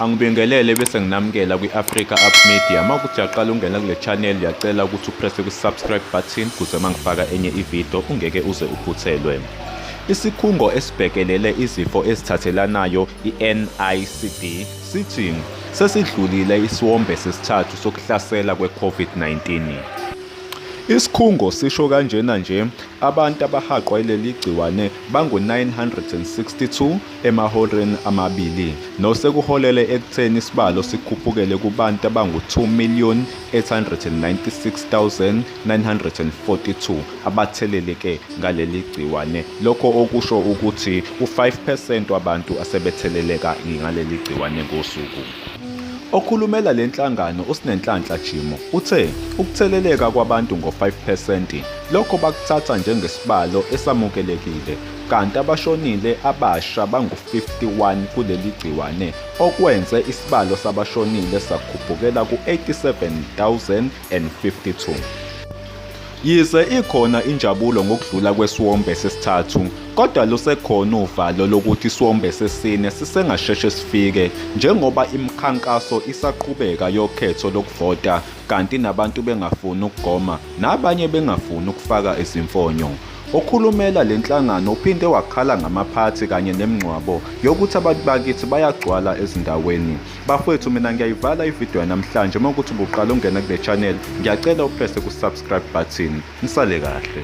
Angibingelele bese nginamukela kwi-Africa Up Media. Uma ukuthi uyaqala ungena kule channel ngiyacela ukuthi upresse kwi-subscribe button kuze uma ngifaka enye ividiyo ungeke uze uphuthelwe. Isikhungo esibhekelele izifo ezithathelanayo i-NICD sithi sesidlulile isiwombe sesithathu sokuhlasela kwe-COVID-19. Isikhungo sisho kanjena nje abantu abahaqwa ileli gciwane bangu-962 emahoreni amabili nosekuholele ekutheni isibalo sikhuphukele kubantu abangu-2,896,942 abatheleleke ngaleli gciwane lokho okusho ukuthi u-5 percent wabantu asebetheleleka ngaleli gciwane ngosuku Okhulumela le nhlangano uSinenhlanhla Jimo uthe ukutheleleka kwabantu ngo-5 percent lokho bakuthatha njengesibalo esamukelekile kanti abashonile abasha bangu-51 kuleli gciwane okwenze isibalo sabashonile sakhuphukela ku-87,052. Yize ikhona injabulo ngokudlula kwesiwombe sesithathu, kodwa lusekhona uvalo lokuthi isiwombe sesine sisengasheshe sifike njengoba imikhankaso isaqhubeka yokhetho lokuvota kanti nabantu bengafuni ukugoma nabanye bengafuni ukufaka izimfonyo. Okhulumela le nhlangano uphinde wakhala ngamaphathi kanye nemngcwabo yokuthi abantu bakithi bayagcwala ezindaweni. Bafwethu mina ngiyayivala ividiyo yanamhlanje uma ukuthi ubuqala ungena kule channel ngiyacela uprese ku-subscribe button. Nisale kahle.